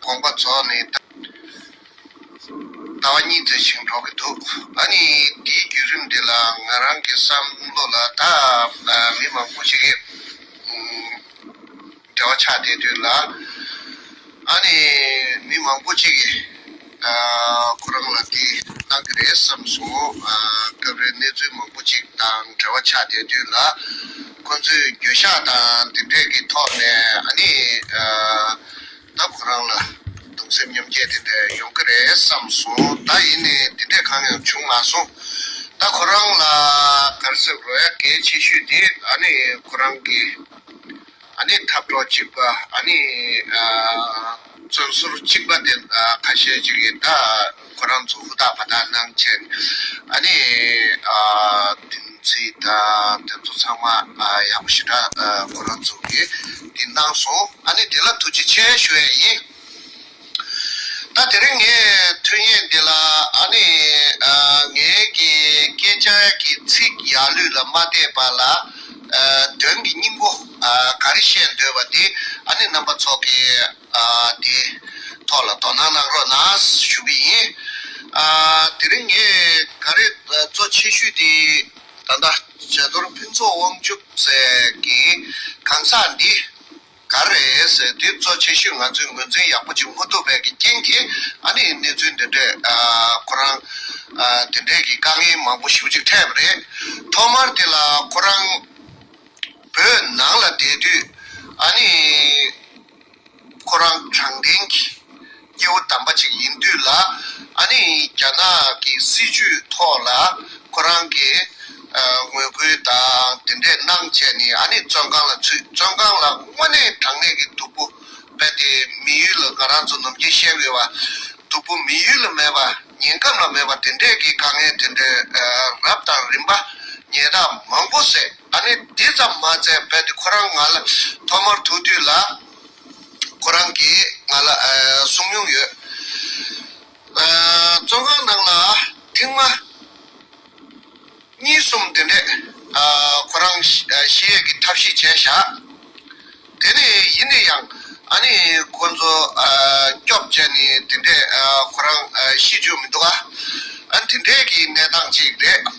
དགོངས་པ་རྫོགས་ནས། ཟླ་བ་གཉིས་ཚེ་ཞིང་འབྲོག་གི་འདུག་ད་ནི་དེའི་བརྒྱུད་རིམ་དེ་ལ་ང་རང་གི་བསམ་བློ་ལ་ད་མི་མང་པོ་ཞིག་གིས་འབྲེལ་བ་ཆགས་བསྡད་དུས་ལ། ཨ་ནི་མི་མང་པོ་ཅིག་གིས། ཁོ་རང་ལ་དེ་གནང་གི་རེད་བསམས་སོང། སྐབས་རེར་གནས་ཚུལ་མང་པོ་ཅིག་དང་འབྲེལ་བ་ཆགས་བསྡད་དུས་ལ། ཁོ་ཚོས་འགྱོད་བཤགས་དང་དེ་འདྲས་ཀྱི་ཐོག་ནས་ཨ་ནི། ད་ཁོ་རང་ལ་གདུང་སེམས་མཉམ་སྐྱེད་དེ་འདྲས་ཡོང་གི་རེད་བསམས་སོང། ད་ཡིན་ནས་དེ་འདྲས་གང་ཡང་བྱུང་མ་སོང། ད་ཁོ་རང་ལ་གར་སེམས་རོ་ཡ་གལ་ཆེ་ཤོས་དེ་ཨ་ནི་ཁོ་རང་གི། ཨ་ནི་འཐབ་གྲོགས་གཅིག་པ་ཨ་ནི་བཙོན་ཟུར་གཅིག་པ་དེ་ཁ་ཤས་ཅིག་ཡིན་ད་ཁོ་རང་ཚོ་ཧུར་ཐག་བར་ཐག་གནང་ཆེད་ཨ་ནི་དེ་ཚོའི་ད་དེ་ཚོ་ཚང་མ་ཡག་པོ་ཞེ་དྲག་ཁོ་རང་ཚོ་གིས་དེ་གནང་སོང་ཨ་ནི་དེ་ལ་ཐུགས་རྗེ་ཆེ་ཞུ་ཡས་ཡིན། ད་དེ་རིང་ངས་ཐུན་ཡས་འདི་ལ་ཨ་ནི་ངའི་གི་སྐད་ཆ་གི་ཚིག་ཡག་ལུས་ལ་མ་བལྟས་པ་ལ་དོན་གི་སྙིང་པོ་ག་རེ་བཤད་འདོད་པ་དེ་ཨ་ནི་རྣམ་པ་ཚོགས་ཀྱི་དེ་ཐོག་ལ་དོ་སྣང་གནང་རོགས་གནང་ཞུ་གི་ཡིན། དེ་རིང་ངས་ག་རེ་གཙོ་ཆེ་ཤོས་དེ་ད་ལྟ་བྱ་དོར་ཕུན་ཚོགས་དབང་ཕྱུག་ཟེར་གི་གང་ཟག་འདི། ག་རེད། དེ་གཙོ་ཆེ་ཤོས་ང་ཚོས་ངོས་འཛིན་ཡག་པོ་བྱེད་མ་ཐུབ་པའི་རྐྱེན་གྱིས་ཨ་ནི་གནས་ཚུལ་འདི་འདྲས། ཁོ་རང། དེ་འདྲས་ཀྱི་དཀའ་ངལ་མང་པོ་ཞུ་ཅིག་འཕྲད་པ་རེད། ཐོག་མར་དེ་ལ་ཁོ་རང། བོད་ནང་ལ་བསྡད་དུས། ཨ་ནི། ཁོ་རང་དྲང་བདེན་གྱི། སྐྱེ་བོ་དམ་པ་ཅིག་ཡིན་དུས་ལ་ཨ་ནི་རྒྱ་ནག་གི་སྲིད་ཇུས་ཐོག་ལ་ཁོ་རང་གི་ངོས་སྐུལ་དང་དེ་འདྲས་གནང་བྱས་ནས་ཨ་ནི་བཙོན་ཁང་ལ་ཚུད་བཙོན་ཁང་ལ་དངོས་གནས་དྲང་གནས་ཀྱི་སྡུག་པོ་བས་ཏེ་མི་ཡུལ་ལ་ང་རང་ཚོ་ནམ་རྒྱུན་བཤད་དགོས་པ་སྡུག་པོ་མི་ཡུལ་ལ་མེད་པ་ཉེན་སྐམ་ལ་མེད་པ་དེ་འདྲས་ཀྱི་དཀའ་ངལ་དེ་འདྲས་རབ་དང་རིམ་པ་ཉེས་རྟགས་མང་པོ་བསྲེགས་ཨ་ནི་དེ་ཙམ་མ་ཚད་བས་ཏེ་ཁོ་རང་ང་ལ་ཐོག་མར་ཐུག་དུས་ལ། ཁོ་རང་གིས་ང་ལ་གསུངས་མྱོང་ཡོད། བཙོན་ཁང་ནང་ལ་ཐེངས་མ། གཉིས་གསུམ་དེ་འདྲས་ཁོ་རང་གཞིས་ཡས་ཀྱི་ཐབས་ཤེས་བྱས་བཞག། དེ་ནས་ཡིན་ནས་ཡང་ཨ་ནེ་ཁོ་ཚོ་སྐྱོབ་བྱས་ནས་དེ་འདྲས་ཁོ་རང་གཞིས་བྱོན་མི་འདུག་ཨ། དེ་འདྲས་ཀྱི་གནས་སྟངས་ཅིག་རེད།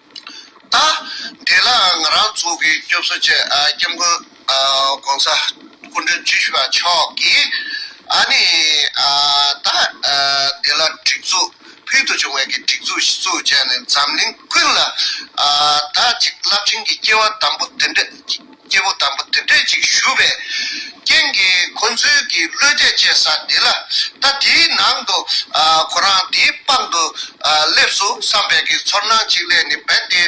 ལྟ། དེ་ལ་ང་རང་ཚོ་གི་སྐྱོབ་གསོ་བྱེད་སྐྱབས་མགོན ྋགོང་ས་སྐུ་མགྲོན་བཅུ་བཞི་པ་མཆོག་གིས་ཨ་ནི་ད་དེ་ལ་སྒྲིག་འཛུགས་ཕུལ་དུ་བྱུང་བའི་གི་སྒྲིག་འཛུགས་ཤི་ཚུགས་བྱས་ནས་འཛམ་གླིང་ཀུན་ལ་ད་ཅིག་རླབས་ཆེན་གྱི་སྐྱེ་བ་དམ་པོ་དེ་འདྲ་སྐྱེས་བུ་དམ་པོ་དེ་འདྲས་ཅིག་ཞུ་བའི་རྐྱེན་གྱིས་ཁོ་ཚོའི་གི་བློས་དད་བཅས་ས་འདི་ལ་ད་དེའི་ནང་དུ་ཁོ་རང་དེའི་པང་དུ་སླེབས་སུ་བསམ་པའི་གི་ཚོར་སྣང་ཅིག་ལས་ནི་བན་དེ་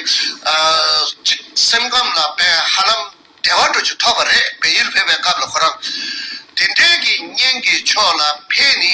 གཅིག་སེམས་ཁམས་ལ་བན་ཧ་ལམ་བདེ་བ་འགྲོ་ཅིག་ཐོབ་པ་རེད་བན་ཡུལ་ཕེབས་པའི་སྐབས་ལ་ཁོ་རང་དེ་འདྲས་གི་གཉེན་གི་ཕྱོགས་ལ་ཕེ་ནི་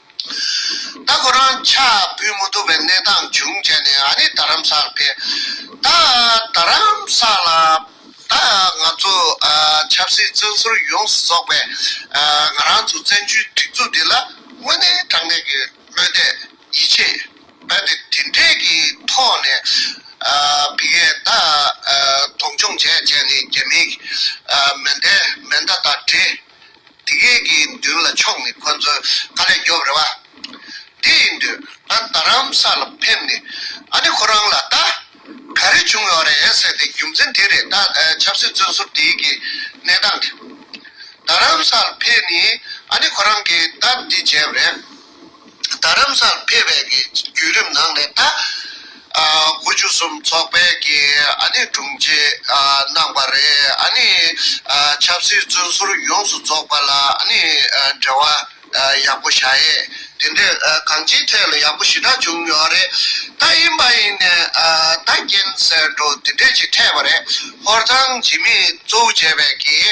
ད་ཁོ་རང་ཕྱག་འབུལ་མི་ཐུབ་པའི་གནས་སྟངས་བྱུང་བྱས་ནས་ཨ་ནི་རྡ་རམ་སར་ཕེབས། ད་རྡ་རམ་ས་ལ་ད་ང་ཚོ་ཆབ་སྲིད་བཙོན་ཟུར་ཡོངས་སུ་རྫོགས་པའི་ང་རང་ཚོ་བཙན་བྱོལ་སྒྲིག་འཛུགས་འདི་ལ་དངོས་གནས་དྲང་གནས་ཀྱི་བློས་འདས་ཡིད་ཆེས་རྦད་དེ་དེ་འདྲས་ཀྱི་ཐོག་ནས་བི་ཡས་ད་མཐོང་ཆུང་བྱས་བྱས་ནས་རྒྱ་མིའི་མེ་མདའི་མེ་མདའ་དང་འདྲེས། དེ་གའི་དགེ་འདུན་ལ་ཕྱོགས་ནས་ཁོ་ཚོའི་དཀའ་ལས་རྒྱོབ་རེ་བ། དེ་ཡིན་དུས་ང་རྡ་རམ་ས་ལ་ཕེབས་ནས་ཨ་ནེ་ཁོ་རང་ལ་ད་ག་རེ་བྱུང་ཡོད་རེད་ཟེར་ཏེ་རྒྱུ་མཚན་དེ་རེད་ད་ཆབ་སྲིད་བཙོན་ཟུར་དེའི་གི་གནས་སྟངས་དེ། རྡ་རམ་ས་ལ་ཕེབས་ནས་ཨ་ནེ་ཁོ་རང་གིས་སྟབས་བདེ་བྱས་པ་རེད། རྡ་རམ་སར་ཕེབས་པའི་བརྒྱུད་རིམ་ནང་ནས་ད་དགུ་བཅུ་གསུམ་ཚོགས་པའི་དྲུང་ཆེ་གནང་བ་རེད། ཆབ་སྲིད་བཙོན་ཟུར་ཡོངས་སུ་རྫོགས་པ་ལ་འབྲེལ་བ་ཡག་པོ་བྱ་ཡས། དེ་འདྲའི་གང་ཅིའི་ཐད་ལ་ཡག་པོ་ཞེ་དྲག་བྱུང་ཡོད་རེད། ད་ཡིན་པ་ཡིན་ནས་ད་རྐྱེན་སེལ་འགྲོ་དེ་འདྲས་ཅིག་འཕྲད་པ་རེད། ཧོར་ཚང་འཇིགས་མེད་གཙོ་བོ་བྱས་པའི་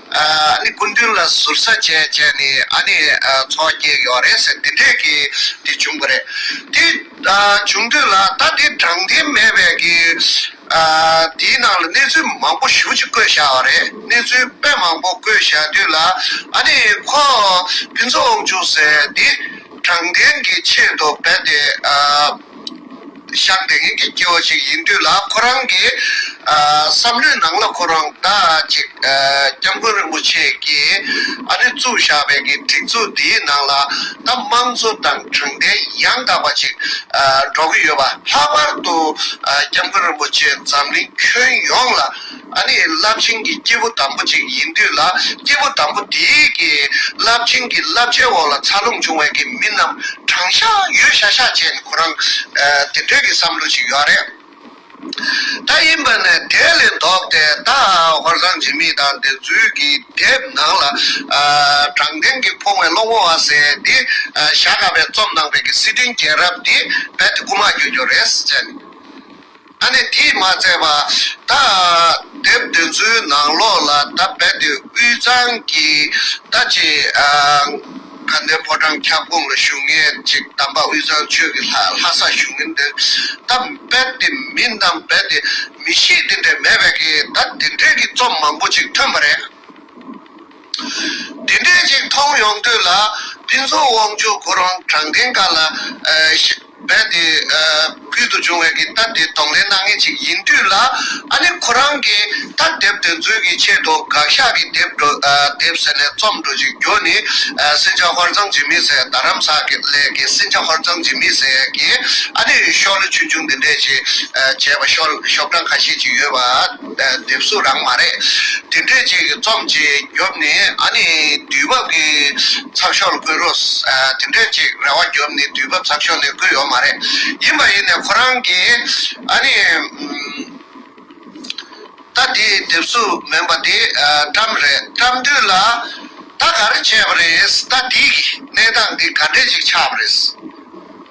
སྐུ་མདུན་ལ་ཟུར་ཟ་བྱས་བྱས་ནས་འཚོ་བ་སྐྱེལ་ཡོད་རེད་ཟེར་དེ་འདྲས་ཀྱི་དེ་བྱུང་གི་རེད། དེ་བྱུང་དུས་ལ་ད་དེ་དྲང་བདེན་མེད་པའི་གི་དེའི་ནང་ལ་གནས་ཚུལ་མང་པོ་ཞུ་ཅིག་བཀོད་བཞག་བ་རེད་གནས་ཚུལ་དཔེ་མང་པོ་བཀོད་བཞག་དུས་ལ་ཨ་ནི་ཁོ་ཕུན་ཚོགས་དབང་ཕྱུག་ཟེར་དེ་དྲང་བདེན་གྱི་ཆེད་དུ་རྦད་དེ་ཤག་དེ་ངེད་ཀྱི་སྐྱེ་བོ་ཞིག་ཡིན་དུས་ལ་ཁོ་རང་གི་བསམ་བློའི་ནང་ལ་ཁོ་རང་ད་ཅིག་སྐྱབས་མགོན་རིན་པོ་ཆེ་ཀྱིས་ཨ་ནི་བཙུགས་བཞག་པའི་གི་སྒྲིག་འཛུགས་འདིའི་ནང་ལ་ད་དམངས་གཙོ་དང་དྲང་བདེན་ཡང་དག་པ་ཅིག་འགྲོ་གི་ཡོད་པ་ལྷག་པར་དུ་སྐྱབས་མགོན་རིན་པོ་ཆེ་འཛམ་གླིང་ཁྱོན་ཡོངས་ལ་ཨ་ནི་རླབས་ཆེན་གྱི་སྐྱེས་བུ་དམ་པོ་ཅིག་ཡིན་དུས་ལ་སྐྱེས་བུ་དམ་པོ་དེའི་གི་རླབས་ཆེན་གྱི་བསླབ་བྱའི་འོག་ལ་འཚར་ལོངས་བྱུང་བའི་གི་མི་རྣམས་དྲང་ཤག་ཡོད་ཤག་ཤག་བྱས་ནས་ཁོ་རང་དེ་འདྲའི་གི་བསམ་བློ་ཞིག་ཡོད་རེད། ད་ཡིན་པ་ནི་དེ་ལས་ལྡོག་སྟེ་ད་ཧོར་ཟངས་འཇིགས་མེད་དང་བདེན་རྫུན་གྱི་དེབ་ནང་ལ་དྲང་བདེན་གྱི་ཕུང་བའི་བློ་ངོ་བ་ཟེར་ཏེ་ཞྭ་དགའ་བས་རྩོམ་གནང་པའི་གི་སྲིད་དོན་རྒྱལ་རབས་དེ་རྦད་དེ་རྐུ་མ་གྱོན་གྱོན་རེད་ཟེར་ནས། ད་ནི་དེས་མ་ཚད་པར། ད་དེབ་འདི་ཚོའི་ནང་ལོགས་ལ་ད་རྦད་དེ་དབུས་གཙང་གི་ད་ཅེ་དགའ་ལྡན་ཕོ་བྲང་ཁྱབ་ཁོངས་ལ་བཞུགས་མཁན་གཅིག་དམ་པ་དབུས་གཙང་ཆོས་ཀྱི་ལྷ་ལྷ་ས་བཞུགས་མིན་དེ་ད་རྦད་དེ་མིན་དམ་རྦད་དེ་མི་ཤེས་དེ་འདྲས་མེད་པས་ད་དེ་འདྲས་ཀྱི་རྩོམ་མང་པོ་ཅིག་ཐོན་པ་རེད། དེ་འདྲའི་ཅིག་མཐོང་ཡོང་དུས་ལ་ཕུན་ཚོགས་དབང་ཕྱུག་ཁོ་རང་དྲང་བདེན་ཀ་ལ་རྦད་དེ་ཕུལ་དུ་བྱུང་བའི་གི་ལྟ་དེ་གདོང་ལེན་གནང་ངེས་ཅིག་ཡིན་དུས་ལ་ཨ་ནི་ཁོ་རང་གི་ལྟ་དེབ་དེ་འཛུལ་གི་ཆེད་དུ་དགག་ཞག་གི་དེབ་འགྲོ་དེབ་ཟེར་ནས་རྩོམ་འགྲོ་ཅིག་རྒྱུ་ནི་སྲིན་བྱ་ཧོར་ཚང་འཇིགས་མེད་ཟེར་རྡ་རམ་ས་ལའི་གི་སྲིན་བྱ་ཧོར་ཚང་འཇིགས་མེད་ཟེར་གི་ཨ་ནི་ཤོག་ལོ་ཆུང་ཆུང་འདི་འདྲས་ཅིག་བྱས་པ་ཤོག་བྲང་ཁ་ཤས་ཅིག་ཡོད་པ། འདེབས་སུ་རང་མ་རེད། དེ་འདྲས་ཅིག་རྩོམ་བྱེད་རྒྱོབ་ནི་ཨ་ནི་དུས་བབ་ཀྱི་ཚགས་ཤོག་ལ་བསྐུར་རོགས། དེ་འདྲས་ཅིག་རེ་བ་རྒྱོབ་ནི་དུས་བབ་ཚགས་ཤོག་ནས་བསྐུར་ཡོག་མ་རེད། ཡིན་པ་ཡིན་ནས་ཁོ་རང་གི་ཨ་ནི་ད་དེ་འདེབས་སུ་མེད་པ་དེ་བཀྲམ་རེད་བཀྲམ་དུས་ལ་ད་ག་རེ་བྱས་པ་རེད་ད་དེའི་གནས་སྟངས་དེ་ག་འདྲས་ཅིག་ཆགས་པ་རེད།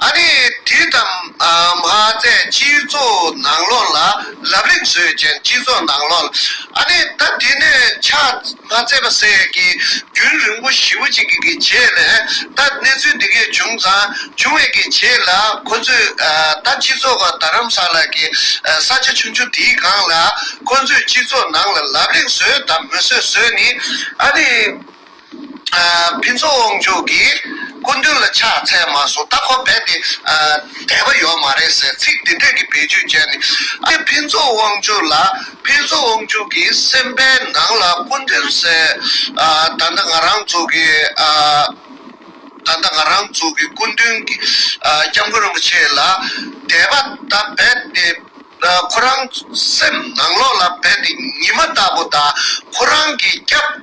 ཨ་རིས་དུས་དང་མ་ཟད་སྤྱི་ཚོགས་ནང་ལོགས་ལ་ལབ་རིང་བཟོས་ཅན་སྤྱི་ཚོགས་ནང་ལོགས་ལ་ཨ་ནེ་ད་དེ་ནས་ཕྱག་མ་བཙལ་པ་ཟེར་ཡས་ཀྱི་རྒྱུན་རིང་པོ་ཞིབ་པོ་ཅིག་གི་རྗེས་ནས་ད་གནས་ཚུལ་འདི་གས་བྱུང་ཙང་བྱུང་བས་ཀྱི་རྗེས་ལ་ཁོ་ཚོས་ད་སྤྱི་ཚོགས་ཀ་རྡ་རམ་ས་ལ་ཀྱི་ས་ཆ་ཆུང་ཆུང་དེའི་སྒང་ལ་ཁོ་ཚོས་སྤྱི་ཚོགས་ནང་ལ་ལབ་རིང་བཟོས་དང་མི་བཟོས་བཟོས་ནི་ཨ་ནེ། ཕུན་ཚོགས་དབང་ཕྱུག་གིས་སྐུ་མདུན་ལ་ཕྱག་འཚལ་མ་སོང་སྟབས་ཁོ་རྦད་དེ་བསྡད་པ་ཡོད་མ་རེད་ཟེར་ཚིག་འདི་དོད་ཀྱི་བེད་སྤྱོད་བྱས་ནས་ཨ་ཕུན་ཚོགས་དབང་ཕྱུག་ལ་ཕུན་ཚོགས་དབང་ཕྱུག་གི་སེམས་པའི་ནང་ལ་སྐུ་མདུན་ཟེར་ད་ལྟ་ང་རང་ཚོ་གི་ད་ལྟ་ང་རང་ཚོ་གི་སྐུ་མདུན་སྐྱབས་མགོན་རིན་པོ་ཆེ་ལ་དད་པ་ད་རྦད་དེ། ཁོ་རང་སེམས་ནང་ལོགས་ལ་རྦད་དེ་ཉི་མ་ལྟ་བུ་དང་ཁོ་རང་གི་སྐྱབས་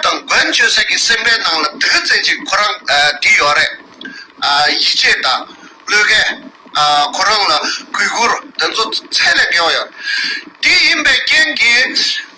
དང་མགོན་མཆོད་སེམས་ཀྱི་སེམས་པའི་ནང་ལ་དེ་ག་ཙན་ཅིག་ཁོ་རང་བྲིས་ཡོད་རེད། ཡིད་ཆེས་དང་བློས་འགེལ་ཁོ་རང་ལ་གུས་བཀུར་དེ་ཚོ་ཚད་ལས་བརྒལ་བ་ཡོད། དེ་ཡིན་པའི་རྐྱེན་གྱིས།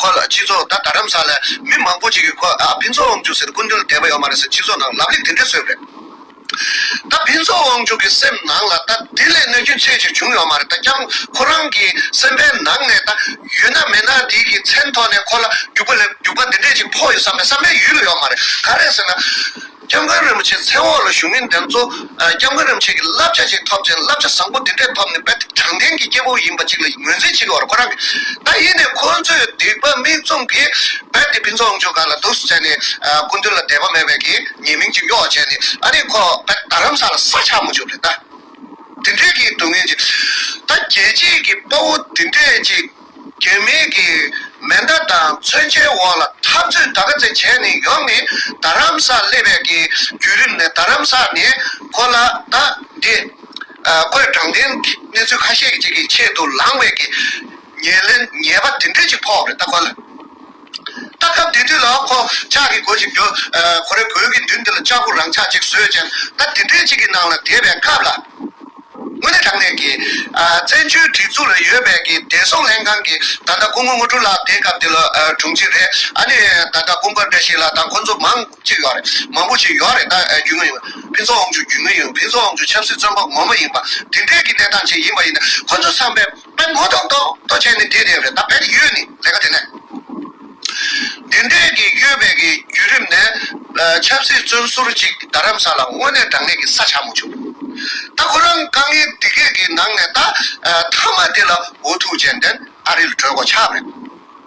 ཁོ་ལ་སྤྱི་ཚོགས་ད་ད་རམ་ས་ལ་མི་མང་པོ་ཅིག་གིས་ཁོ་ད་ཕིན་ཚོགས་དབང་ཕྱུག་ཟེར་ཀུན་སྒྲོལ་དད་པ་ཡོད་མ་རེད་ཟེར་སྤྱི་ཚོགས་ནང་ལབ་གླེང་དེ་འདྲས་བཟོས་རེད། ད་ཕིན་ཚོགས་དབང་ཕྱུག་གི་སེམས་ནང་ལ་ད་དེ་ལས་གནོད་སྐྱོན་ཆེ་ཞིག་བྱུང་ཡོད་མ་རེད་ད་རྐྱང་ཁོ་རང་གི་སེམས་པའི་ནང་ནས་ད་ཡུལ་ན་མེད་ན་དེ་གི་མཚན་ཐོག་ནས་ཁོ་ལ་རྒྱུག་པ་ལས་རྒྱུག་པ་དེ་འདྲས་ཅིག་ཕོག་ཡོད་བསམ་པའི་བསམ་པའི་ཡུལ་ཡོད་མ་རེད་ག་རེད་ཟེར་ན། སྐྱབས་མགོན་རིན་པོ་ཆེའི་མཚན་འོག་ལ་བཞུགས་མི་འདི་ཚོ་སྐྱབས་མགོན་རིན་པོ་ཆེ་གི་བསླབ་བྱ་ཞིག་ཐོབ་ཅིང་བསླབ་བྱ་བཟང་པོ་འདི་འདྲས་ཐོབ་ནས་དཔལ་དྲང་བདེན་གྱི་སྐྱེ་བོ་ཡིན་པ་ཅིག་ལ་ངོས་འཛིན་བྱེད་དགོས་པ་ཁོ་རང་གིས་ད་ཡིན་ནས་ཁོ་ཚོས་སྡིག་པ་མིག་བཙུམ་གིས་རྦད་དེ་ཕུན་ཚོགས་དབང་ཕྱུག་ག་ལ་འདུག་བྱས་ནས་སྐུ་མདུན་ལ་དད་པ་མེད་པའི་གིས་ཉེས་མིང་ཅིག་གཡོག་བྱས་ནས་ཨ་རིག་ཁོ་རྦད་རྡ་རམ་ས་ལ་ས་ཆགས་མ་བྱུང་རེད་ད། དེ་འདྲས་གིས་སྡུག་བསྔལ་ཅིག་ད་རྒྱལ་གཅེས་ཀྱི་དཔའ་བོ་དེ་འདྲས་ཅིག། དོན་མེད་ཀྱི་མེ་མདའ་དང་མཚོན་ཆའི་འོག་ལ་འཐབ་རྩོད་དག་ག་ཚད་བྱས་ནས་ཡོང་ནས་རྡ་རམ་ས་སླེ་བས་ཀྱི་བརྒྱུད་རིམ་ནས་རྡ་རམ་ས་ནས་གོ་ལ་དག་འདི་བརྐོས་དྲང་བདེན་གནས་ཚུལ་ཁ་ཤས་ཀྱི་ཆེད་དུ་ལངས་བས་ཀྱི་ཉེས་ལེན་ཉེས་པ་དེ་འདྲས་ཅིག་ཕོག་རེད་ད་གོ་ལ། ལྟ་སྐབས་དེ་དུས་ལ་ཁོ་ཅག་གིས་གོ་ཞིག་རྒྱོ། ཁོ་རེ་གོས་ཀྱི་མདུན་དེ་ལ་ལྕགས་པོ་རང་ཆག་ཅིག་བཟོས་རྗེས་ལྟ་དེ་འདྲའི་ཅིག་གི་ནང་ལ་དེད་པའི་སྐབས་ལ། དངོས་གནས་དྲང་གནས་ཀྱི། བཙན་བྱོལ་སྒྲིག་འཛུགས་ལ་ཡོད་པའི་གི་བདེ་སྲུང་ལྷན་ཁང་གི་ད་ལྟ་སྐུ་ངོ་ངོ་སྤྲུལ་ལགས་དེ་སྐབས་དེ་ལོ་དྲུང་ཆེ་རེད་ཨ་ནི་ད་ལྟ་དཔུང་པ་འདྲ་ཞིག་ལ་ད་ཁོ་ཚོ་མང་ཅིག་ཡོད་རེད་མང་པོ་ཞིག་ཡོད་རེད་ད་རྒྱུས་མངའ་ཡོད་ཕུན་ཚོགས་དབང་ཕྱུག་རྒྱུས་མངའ་ཡོད་ཕུན་ཚོགས་དབང་ཕྱུག་ཆབ་སྲིད་བཙོན་པ་ངོ་མ་ཡིན་པ་དེ་འདྲའི་གི་གནས་སྟངས་ཅིག་ཡིན་པ་ཡིན་ན་ཁོ་ཚོ་བསམ་པའི། དཔལ་མགོན་དང་བདག་ད་ཆས་ནི་འདྲེས་བསྡད་རེད་ད་བལ་ཡུལ་ནི་ལས་ཀ་དེ་ནས་དེ་འདྲས་ཀྱི་གཡོལ་བས་ཀྱི་བརྒྱུད་རིམ་ནས་ཆབ་སྲིད་བཙོན་ཟུར་ཅིག་རྡ་རམ་ས་ལ་དངོས་གནས་དྲང་གནས་ཀྱི་ས་ཆ་མོ་བྱུང་ད་ཁོ་རང་དཀའ་ངལ་འདི་སྐད་ཀྱི་ནང་ནས་ད་མཐའ་མ་དེ་ལ་འོ་ཐུག་ཅན་དེ་ཨ་རིར་བྲོས་གོ་ཆག་རེད།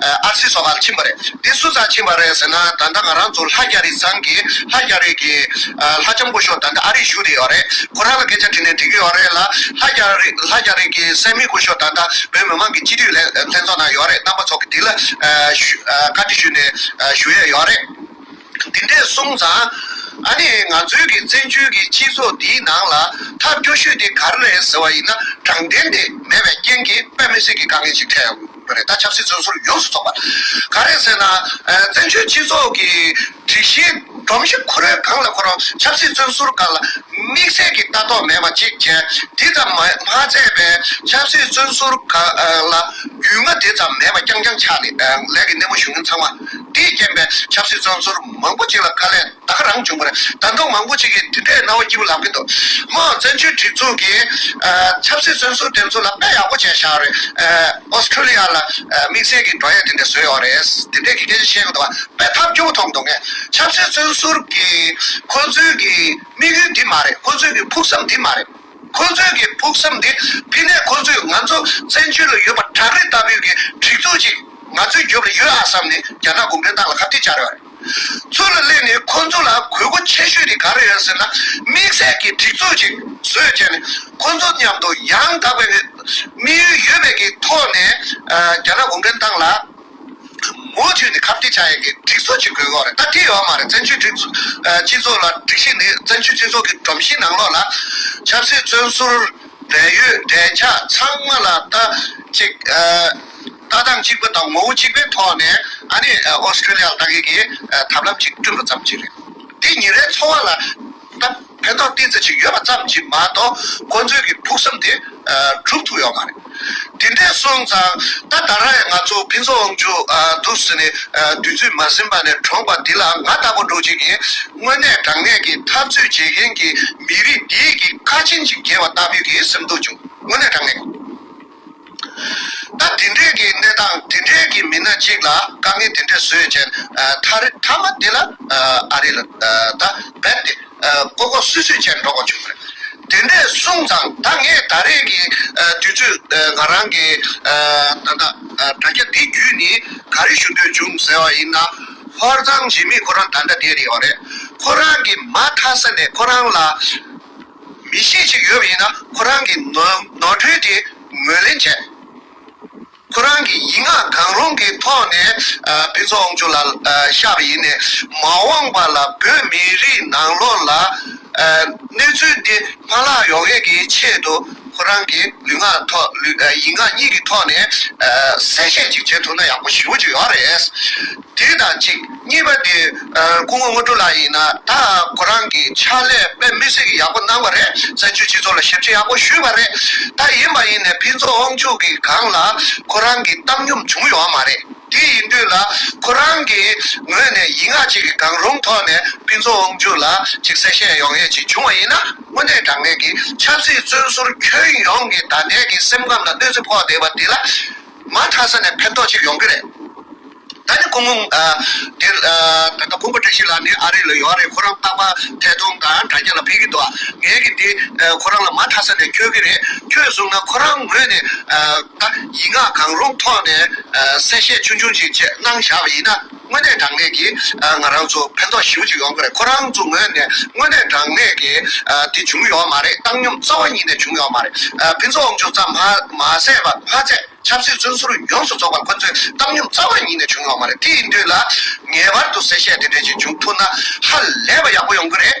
ཨར་སི་སོགས་ལ་ཕྱིན་པ་རེད། དེ་སུ་ཙང་ཕྱིན་པ་རེད་ཟེར་ན་ད་ལྟ་ང་རང་ཚོ་ལྷ་རྒྱ་རི་ཚང་གི་ལྷ་རྒྱ་རི་གི་ལྷ་ལྕམ་སྐུ་ཤོག་ད་ལྟ་ཨ་རིར་བཞུགས་རེད་ཡོད་རེད་ཁོ་རང་ལ་སྐད་ཆ་དྲིས་ནས་འདྲི་གི་ཡོད་རེད་ལ་ལྷ་རྒྱ་རི་ལྷ་རྒྱ་རི་གི་སད་མི་སྐུ་ཤོག་ད་ལྟ་བོད་མི་མང་གི་སྤྱི་འཐུས་ལྷན་ལྷན་ཚོགས་ནང་ཡོད་རེད་རྣམ་པ་ཚོགས་ཀྱི་དྲི་ལ་བཀའ་དྲི་ཞུས་ནས་ཞུ་ཡས་ཡོད་རེད། འདི་འདྲས་གསུངས་ཙང། ཨ་ནི་ང་ཚོའི་གི་བཙན་བྱོལ་གི་སྤྱི་ཚོགས་འདིའི་ནང་ལ་ཐབས་སྐྱོ་ཤོས་དེ་ག་རེ་རེད་ཟེར་བ་ཡིན་ན་དྲང་བདེན་དེ་མེད་པའི་རྐྱེན་གྱིས་དཔེ་མི་སྲིད་གི་དཀའ་ངལ་ཞིག་འཕྲད་ཡོང་གི་རེད་ད་ཆབ་སྲིད་བཙོན་ཟུར་ཡོངས་སུ་ཚོགས་པ། ག་རེ་ཟེར་ན་བཙན་བྱོལ་སྤྱི་ཚོགས་ཀྱི་དྲི་གཞི་སྒྲོམ་གཞི་ཁུ་རོའི་སྒང་ལ་འཁོར་རུང་ཆབ་སྲིད་བཙོན་ཟུར་འགའ་ལ་དམིགས་བསལ་གྱི་ལྟ་རྟོག་མེད་པ་གཅིག་བྱས་འདི་ཙམ་མ་མཛད་པས་ཆབ་སྲིད་བཙོན་ཟུར་འགའ་ལ་རྒྱུས་མངའ་དེ་ཙམ་མེད་པ་རྐྱང་རྐྱང་ཆགས་ནས་ལས་ཀྱི་སྣེ་མོ་ཞུ་མཁན་ཚང་མ། དེས་རྐྱེན་པས་ཆབ་སྲིད་བཙོན་ཟུར་མང་པོ་ཅིག་ལ་དཀའ་ལས་དག་རང་བྱུང་བར་དར་མདོ་མང་པོ་ཅིག་གིས་འདི་འདྲའི་སྣང་བ་སྐྱིད་པོ་ལབ་ཀྱི་འདུག་དམངས་གཙོ་བཙན་བྱོལ་སྒྲིག་འཛུགས་ཀྱིས་ཆབ་སྲིད་བཙོན་ཟུར་དེ་ཚོ་ལ་དཔེ་ཡག་པོ་བྱས་ཤག་རེད། Australia ལ་དམིགས་བསལ་གྱི་བྲོ་ཡས་དེ་འདྲས་བཟོས་ཡོད་རེད། དེ་འདྲས་ཀྱི་སྐད་ཆ་བཤད་ཀྱི་འདུག་བ་དཔེ་ཐབས་སྐྱོ་བོ་མཐོང་འདུག་ངས་ཆབ་སྲིད་བཙོན་ཟུར་གྱིས་ཁོ་ཚོའི་གི་དམིགས་ཡུལ་འདི་མ་རེད་ཁོ་ཚོའི་གི་ཕུགས་བསམ་འདི་མ་རེད། ཁོ་ཚོའི་གི་ཕུགས་བསམ་དེ་ཕི་ནས་ཁོ་ཚོས་ང་ཚོ་བཙན་བྱོལ་ལ་ཡོད་པ་བྲག་རི་ལྟ་བུའི་གི་སྒྲིག་འཛུགས་ཅིག་ང་ཚོའི་རྒྱོབ་ལ་ཡོད་ཨ་བསམ་ནས་རྒྱ་ནག་གུང་ཁྲན་ཏང་ལ་ཁ་བསྟི་བྱ་རེ་བ་རེད། ཚུར་ལ་སླེབས་ནས་ཁོ་ཚོ་ལ་གུས་བཀུར་ཆེ་ཤོས་དེ་ག་རེ་ཡོད་ཟེར་ན་དམིགས་བསལ་གི་སྒྲིག་འཛུགས་ཅིག་བཟོས་རྗེས་ནས་ཁོ་ཚོ་མཉམ་དུ་ཡང་དག་པའི་གི་དམིགས་ཡུལ་ཡོད་པའི་གི་ཐོག་ནས་རྒྱ་ནག་གུང་ཁྲན་ཏང་ལ། མུ་མཐུད་ནས་ཁ་གཏད་ཆགས་ཡོད་མཁན་སྒྲིག་འཛུགས་ཀྱི་དགོས་མཁོ་རེད་ད་དེ་ཡོད་མ་རེད་བཙན་བྱོལ་སྒྲིག་འཛུགས་སྤྱི་ཚོགས་ལ་སྒྲིག་གཞི་ནི་བཙན་བྱོལ་སྤྱི་ཚོགས་ཀྱི་སྒྲོམ་གཞིའི་ནང་ལོགས་ལ། ཆབ་སྲིད་བཙོན་ཟུར་བལ་ཡུལ་འབྲས་ཆགས་ཚང་མ་ལ་ལྟ་ཅིག་ལྟ་སྟངས་གཅིག་པུ་དང་ངོ་བོ་གཅིག་པའི་ཐོག་ནས་ཨ་ནི Australia ལ་ལྟ་མཁན་གྱི་ཐབས་ལམ་གཅིག་བསྐྲུན་པ་ཙམ་གྱིས་རེད་དེ་ཉིན་རེའི་འཚོ་བ་ལ། སྟབས་ཕན་ཐོགས་གཏིང་ཚད་ཅིག་ཡོད་པ་ཙམ་གྱིས་མ་གཏོགས་ཁོ་ཚོའི་གི་ཕུགས་བསམ་དེ་གྲུབ་ཐུབ་ཡོད་མ་རེད། དེ་འདྲས་སོང་ཙང་ད་ལྟ་ར་ཡས་ང་ཚོ་ཕན་ཚུན་འོང་རྒྱུ་འདུག་ཟེར་ནས་དུས་ཚོད་མ་ཟིན་པ་ནས་གྲོངས་པ་དེ་ལ་ང་ལྟ་བུ་འགྲོ་བྱེད་ཀྱི་དངོས་གནས་དྲང་གནས་ཀྱི་འཐབ་རྩོད་བྱེད་མཁན་གྱི་མི་རིགས་འདིའི་གི་ཁ་ཆེན་ཅིག་རྒྱལ་བ་ལྟ་བུའི་གི་སེམས་སྡུག་བྱུང་དངོས་གནས་དྲང་གནས། ད་དེ་འདྲས་ཀྱི་གནས་སྟངས་དེ་འདྲས་ཀྱི་མི་སྣ་གཅིག་ལ་དཀའ་ངལ་དེ་འདྲས་བཟོས་རྗེས་མཐའ་རི་མཐའ་མ་དེ་ལ་ཨ་རི་ལ་ད་རྦད་དེ་ཀོ་ཀོ་སུད་སུད་བྱས་འགྲོ་དགོས་བྱུང་བ་རེད། དེ་འདྲས་གསུངས་ཙང་ད་ངས་ད་རེས་ཀྱི་དུས་ཚོད་ང་རང་གི་ད་ལྟ་དྲ་རྒྱ་འདི་བརྒྱུད་ནས་ག་རེ་ཞུ་འདོད་བྱུང་ཟེར་བ་ཡིན་ན། ཧོར་གཙང་བྱེས་མི་ཁོ་རང་ད་ལྟ་དེ་རེད་བ་རེད། ཁོ་རང་གིས་མ་མཐའ་ས་ནས་ཁོ་རང་ལ། མི་ཤེས་ཅིག་ཡོད་པ་ཡིན་ན་ཁོ་རང་གིས་ནོར་འཁྲུལ་དེ་ངོས་ལེན་བྱས། ཁོ་རང་གིས་ཡིག་ངག་གང་རུང་གི་ཐོག་ནས་ཕུན་ཚོགས་དབང་ཕྱུག་ལ་ཤ་བ་ཡིན་ནས་མ་འོངས་པ་ལ་བོད་མི་རིགས་ནང་ལོག་ལ་གནས་ཚུལ་འདི་མ་ལག་ཡོང་ཡས་ཀྱི་ཆེད་དུ་ཁོ་རང་གིས་ལུས་ངག་ཐོག་ཡིག་ངག་གཉིས་ཀྱི་ཐོག་ནས་གསལ་བཤད་ཅིག་བྱེད་ཐུབ་ན་ཡག་པོ་ཞིའུ་ཅིག་ཡོད་རེད། དེ་དང་གཅིག་གཉིས་པ་དེ་སྐུ་ངོ་དངོས་སྤྲོ་ལགས་ཡིན་ན་ད་ཁོ་རང་གི་ཕྱག་ལས་དཔེ་མི་སེར་གྱི་ཡག་པོ་གནང་བ་རེད་བཙན་བྱོལ་སྤྱི་ཚོགས་ལ་ཞབས་ཕྱི་ཡག་པོ་ཞུས་པ་རེད་ད་ཡིན་པ་ཡིན་ནས་ཕིན་ཚོགས་དབང་ཕྱུག་གི་སྒང་ལ་ཁོ་རང་གི་བཏང་སྙོམས་བྱུང་ཡོད་མ་རེད་དེ་ཡིན་དུས་ལ་ཁོ་རང་གི་ངོས་ནས་ཡིག་ངག་ཅིག་གི་སྒང་རུང་ཐོག་ནས་ཕིན་ཚོགས་དབང་ཕྱུག་ལ་ཅིག་གསལ་བཤད་ཡོང་ཡས་ཅིག་བྱུང་བ་ཡིན་ན་དངོས་གནས་དྲང་ངེས་ཀྱི་ཆབ་སྲིད་བཙོན་ཟུར་ཁྱོན་ཡོངས་ཀྱི་ད་ལྟའི་གི་སེམས་ཁམས་ལ་གནོད་འཚེ་ཕོག་བསྡད་པ་དེ་ལ་མ་མཐའ་ས་ནས་ཕན་ཐོགས་ཅིག་ཡོང་གི་རེད། ད་ནི་ཁོང་འདིར་ད་ལྟ་ཁོང་པོ་བཀྲ་ཤིས་ལགས་འདི་ཨ་རི་ལ་ཡོད་རེད་ཁོ་རང་རྟག་པ་ཐད་གཏོང་དང་དྲ་རྒྱ་ལ་ཕེབས་ཀྱི་འདུག་ངས་ཀྱི་འདི་ཁོ་རང་ལ་མ་མཐའ་ས་ནས་འཁྱོལ་གྱི་རེད་ཁྱོད་བཟུང་ན་ཁོ་རང་ངོས་ནས་ད་ཡིག་ངག་གང་རུང་ཐོག་ནས་གསལ་བཤད་ཆུང་ཆུང་ཅིག་བཅས་གནང་བཞག་པ་ཡིན་ན། དངོས་གནས་དྲང་གནས་ཀྱི་ང་རང་ཚོ་ཕན་ཐོགས་ཞིའུ་ཅིག་ཡོང་གི་རེད་ཁོ་རང་ཚོ་ངོས་ནས་དངོས་གནས་དྲང་གནས་ཀྱི་དེ་བྱུང་ཡོད་མ་རེད་བཏང་སྙོམས་རྩ་བ་ཉིད་ནས་བྱུང་ཡོད་མ་རེད་ཕུན་ཚོགས་དབང་ཕྱུག་ཙམ་མ་ཟད་པ་མ་ཚད་ཆབ་སྲིད་བཙོན་ཟུར་ཡོངས་སུ་རྫོགས་པ་ཁོ་ཚོའི་བཏང་སྙོམས་རྩ་བ་ཉིད་ནས་བྱུང་ཡོད་མ་རེད་དེ་ཡིན་དུས་ལ་ངེས་པར་དུ་གསལ་བཤད་དེ་འདྲས་ཅིག་བྱུང་ཐུབ་ན་ཧ་ལས་པ་ཡག་པོ་ཡོང་གི་རེད།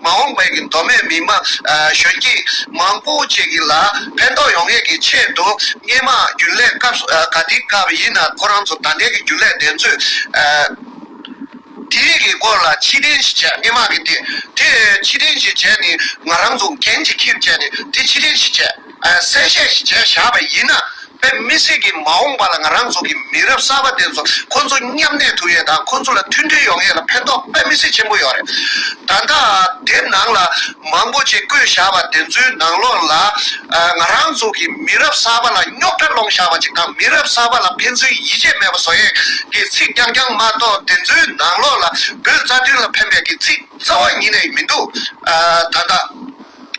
མ་འོངས་པའི་མདོ་སྨད་མི་དམངས་གཞོན་སྐྱེས་མང་པོ་བཅས་ཀྱི་ལ་ཕན་ཐོགས་ཡོང་ངེས་ཀྱི་ཆེད་དུ་སྨྱན་མང་རྒྱུན་ལས་སྐབས་ག་དེའི་སྐབས་ཡིན་ན་ཁོ་རང་ཚོ་ད་ལྟའི་གི་རྒྱུན་ལས་བདེན་རྫུན་དེ་རིགས་ཀྱི་སྐོར་ལ་ཕྱི་དྲན་ཞིག་བྱས་སྨྱན་མང་གི་དེ་དེ་ཕྱི་དྲན་ཞིག་བྱས་ནས་ང་རང་ཚོ་འགན་ཅིག་ཁིར་བྱས་ནས་དེ་ཕྱི་དྲན་ཞིག་བྱས། གསལ་བཤད་ཞིག་བྱས་བཞག་པ་ཡིན་ན། བོད་མི་སེར་གྱི་མ་འོངས་པ་ལ་ང་རང་ཚོ་གི་མི་རབས་གསར་པ་དེ་ཚོ་ཁོང་ཚོ་མཉམ་གནས་ཐུབ་ཡོད་དང་ཁོང་ཚོ་ལ་མཐུན་སྒྲིལ་ཡོང་ཡོད་ལ་ཕན་ཐོག་དཔེ་མི་སྲིད་ཆེན་པོ་ཡོད་རེད། ད་ལྟ་དེབ་ནང་ལ་མང་པོ་ཆེ་བཀོད་བཞག་པ་དེ་ཚོའི་ནང་ལོགས་ལ། ང་རང་ཚོ་གི་མི་རབས་གསར་པ་ལ་རྙོག་དྲ་སློང་བཞག་པ་ཅིག་དང་མི་རབས་གསར་པ་ལ་ཕན་ཚུན་ཡིད་ཆེས་མེད་པ་བཟོ་ཡས་ཀྱི་ཚིག་རྐྱང་རྐྱང་མ་གཏོགས་དེ་ཚོའི་ནང་ལོགས་ལ་བོད་རྩ་དོན་ལ་ཕན་པའི་ཀྱི་ཚིག་རྩ་བ་ཉིད་ནས་མི་འདུག་ད་ལྟ།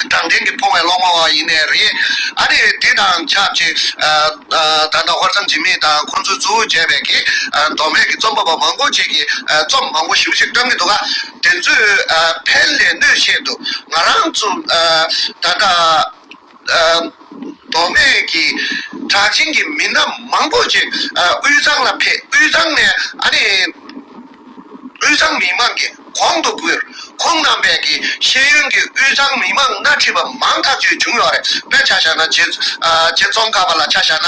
དྲང་བདེན་གྱི་འཕོ་བའི་གློག་མ་བ་ཡིན་ནས་རེད། ཨ་རིས་དེ་དང་ཆབས་ཅིག་ད་ལྟ་ཧོར་ཚང་འཇིགས་མེད་དང་ཁོང་ཚོའི་གཙོ་བོ་བྱས་པའི་གི་མདོ་སྨད་ཀྱི་རྩོམ་པ་པོ་མང་པོ་ཅིག་གིས་རྩོམ་མང་པོ་ཞིབ་ཞིབ་བཀྲམ་གྱི་འདུག་ག་དེ་ཚོས་ཕན་ལས་གནོད་ཆེ་འདུག་ང་རང་ཚོ་ད་ལྟ་མདོ་སྨད་ཀྱི་གྲགས་ཅན་གྱི་མི་སྣ་མང་པོ་ཅིག་དབུས་གཙང་ལ་ཕེབས་དབུས་གཙང་ནས་ཨ་རིའི། དབུས་གཙང་མི་མང་གི་གོང་དུ་བུད། ཁོང་རྣམ་པས་ཀྱི་ཤེས་ཡོན་གྱི་དབུས་གཙང་མི་མང་སྣ་ཁྲིད་པ་མང་ཐག་ཆོད་བྱུང་ཡོད་རེད་དཔེ་ཆ་བཞག་ན་རྗེ་ཙོང་ཁ་པ་ལ་ཆ་བཞག་ན་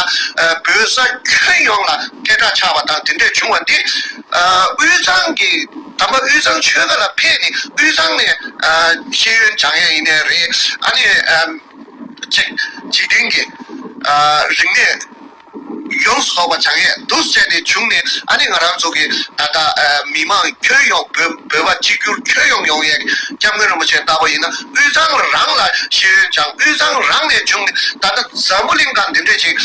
བོད་ས་ཁྱོན་ཡོངས་ལ་སྐད་གྲགས་ཆགས་པ་དང་དེ་འདྲས་བྱུང་བ་འདི་དབུས་གཙང་གི་དམ་པ་དབུས་གཙང་ཆོལ་ཁ་ལ་ཕེབས་ནས་དབུས་གཙང་ནས་ཤེས་ཡོན་སྦྱང་ཡས་ཡིན་ནས་རེད་ཨ་ནི། འཇིག་རྟེན་གྱི་རིག་གནས། ཡོངས་སུ་རྫོགས་པ་བྱང་ཡས་བདུད་བསད་ནས་བྱུང་ནས་ཨ་ནི་ང་རང་ཚོ་གི་ད་ལྟ་མི་དམངས་ཁྱོན་ཡོངས་བོད་བོད་པ་གཅིག་གྱུར་ཁྱོན་ཡོངས་ཡོངས་ཡས་སྐྱབས་མགོན་རིན་པོ་ཆེ་ལྟ་བུ་ཡིན་ན་དབུས་གཙང་རང་ལ་ཤེས་ཡོན་བྱང་དབུས་གཙང་རང་ནས་བྱུང་ནས་ད་ལྟ་འཛམ་བུ་གླིང་དང་འདི་འདྲས་ཅིག་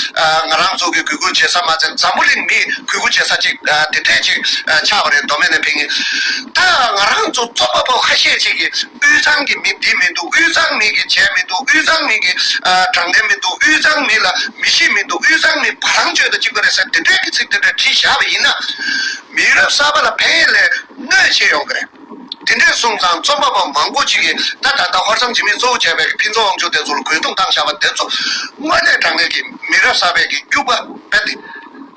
ང་རང་ཚོ་གི་གུས་བཀུར་བྱེད་ས་མ་ཚད་འཛམ་བུ་གླིང་མིས་གུས་བཀུར་བྱེད་ས་ཅིག་འདི་འདྲས་ཅིག་ཆགས་པ་རེད་མདོ་སྨད་ནས་ཕེབས་ཉིན་ད་ང་རང་ཚོ་ཚོགས་པ་པོ་ཁ་ཤས་ཅིག་གིས་དབུས་གཙང་གི་མི་འདི་མི་འདུག་དབུས་གཙང་མི་གིས་བྱས་མི་འདུག་དབུས་གཙང་མི་གིས་དྲང་བདེན་མི་འདུག་དབུས་གཙང་མི་ལ་མི་ཤེས་མི་འདུག་དབུས་གཙང་ནི་བ་ལང་སྤྱོད་དུ་བཅུག་པ་རེད་ཟེར་དེ་འཕྲལ་གྱི་ཚིག་དེ་འདྲ་བྲིས་བཞག་པ་ཡིན་ན། མི་རབས་གསར་པ་ལ་ཕན་ཡོད་ལས་གནོད་བྱེད་ཡོང་གི་རེད། དེ་འདྲའི་གསུང་ཚང་རྩོམ་པ་པོ་མང་པོ་ཅིག་གིས་ད་ད་ལྟ་ཧོར་གཙང་འཇིགས་མེད་གཙོ་བོ་བྱས་པའི་ཕིན་ཚོང་དབང་ཕྱུག་དེ་ཚོ་ལ་གུས་སྟོང་བཏང་བཞག་པ་དེ་ཚོ་དངོས་གནས་དྲང་གནས་ཀྱི་མི་རབས་གསར་པས་ཀྱིས་སྐྱུག་པ་རྦད་དེ་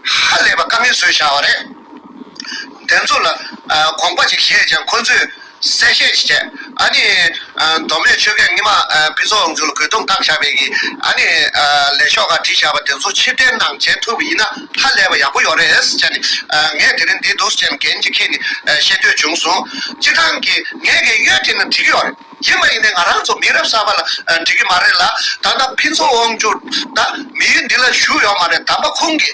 ཧ་ལས་པ་དཀའ་ངལ་བཟོས་བཞག་བ་རེད། དེ་ཚོ་ལ་དགོངས་པ་ཅིག་བཞེས་ཀྱང་ཁོ་ཚོས་གསལ་བཤད་ཅིག་བྱས། ཨ་ནི། མདོ་སྨད་ཆོལ་ཁའི་རྔི་མ་སྤི་ཚོགས་དབང་ཚུལ་གོས་དུང་བཏགས་བཞག་པའི་གི་ཨ་ནི། ལས་ཤོག་ཁག་བྲིས་བཞག་པ་དེ་ཚོ་ཕྱིར་དྲན་གནང་བྱེད་ཐུབ་ཡིན་ན་ཧ་ལས་པ་ཡག་པོ་ཡོག་རེད་བྱས་ནས་ངས་དེ་རིང་འདི་འདུག་བྱས་ནས་གན་ཅིག་ཁྱེད་ནས་བཤད་འདོད་བྱུང་སོང། སྤྱིར་བཏང་གི་ངས་གི་གཡོལ་དེ་ནི་འགྲིག་གི་ཡོག་རེད་ཡིན་མ་ཡིན་ནའི་ང་རང་ཚོ་མི་རབས་གསར་པ་ལ་འགྲིག་གི་མ་རེད་ལ་ད་ལྟ་སྤི་ཚོགས་དབང་ཚུལ་ད་མི་ཡུལ་འདི་ལ་བཞུགས་ཡོག་མ་རེད་དམ་པ་ཁོང་གི་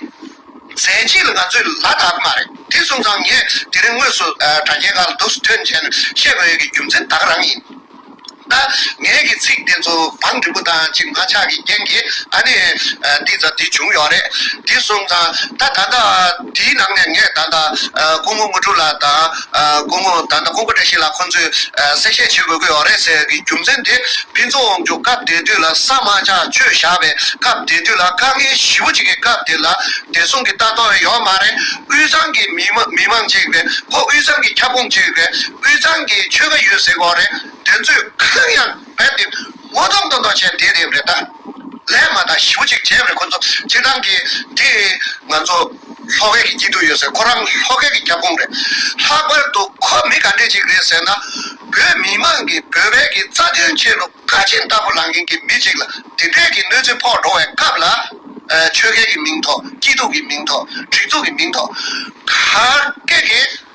ཟས་ཅི་ལ་ང་ཚོས་ལ་དྭགས་མ་རེད་དེ་གསུངས་ཙང་ངས་དེ་རིང་དངོས་སུ་དྲ་རྒྱའི་ཁ་ལ་འདུག་སྲིད་དོན་ཆེན་བཤད་དགོས་ཡོད་ཀྱི་རྒྱུ་མཚན་བདག་རང་ཡིན། ད་ངས་ཀྱི་ཚིག་དེ་ཚོ་བང་འགྲིག་པོ་དང་གཅིག་མ་ཆགས་ཀྱི་རྐྱེན་གྱིས་ཨ་ནི་འདི་ཙམ་དེ་བྱུང་ཡོད་རེད་དེ་གསུངས་ཙང་ད་ད་ལྟ་དེའི་ནང་ནས་ངས་ད་ལྟ་སྐུ་ངོ་དངོས་གྲུབ་ལགས་དང། དགོས་མཁོ་ད་ལྟ་ཁོ་པ་འདྲ་ཞིག་ལ་ཁོང་ཚོས་གསལ་བཤད་བྱེད་དགོས་ཀྱི་ཡོད་རེད་ཟེར་གི་རྒྱུ་མཚན་དེ་ཕན་ཚུན་དབང་གྱོ་སྐབས་དེ་དུས་ལ་ས་མ་ཆག་ཆོས་བཞག་པའི་སྐབས་དེ་དུས་ལ་དཀའ་ངལ་ཞི་བོ་ཅིག་གི་སྐབས་དེ་ལ་བདེ་སྲུང་གི་ལྟ་རྟོག་ཡོད་མ་རེད་དབུས་གཙང་གི་མི་མང་ཅིག་རེད་ཁོ་དབུས་གཙང་གི་ཁྱབ་ཁོངས་ཅིག་རེད་དབུས་གཙང་གི་ཆོལ་ཁ་ཡོད་ཟེར་གི་རེད་དེ་ཚོས་གང་ཡང། བས་འདི་ངོ་གདོང་དུ་འདོགས་ཆེན་དེ་རེད་རེད་ད། ལས་མ་དང་ཞིབ་ཅིག་བྱས་རེད་ཁོ་ཚོ་ཁྱེད་རང་གི་འདི། ང་ཚོ་ལྷོ་ཁའི་གི་སྐྱིད་སྡུག་ཡོད་ཟེར་ཁོ་རང་ལྷོ་ཁའི་གི་རྒྱབ་ཁུང་རེད། ལྷག་པར་དུ་ཁོ་མི་ག་འདྲས་ཅིག་རེད་ཟེར་ན། བོད་མི་མང་གི་བོད་པའི་གི་རྩ་དོན་ཆེད་ལུག་ཁ་ཆེན་ལྟ་བུ་ལངས་མཁན་གི་མི་ཅིག་ལ་དེ་འདྲས་གི་གནོད་འཚེ་ཕོག་འགྲོ་བའི་སྐབས་ལ། ཆོལ་ཁའི་གི་མིང་ཐོག་སྐྱིད་སྡུག་གི་མིང་ཐོག་སྒྲིག་འཛུགས་གི་མིང་ཐོག། ག་གེ་གེ།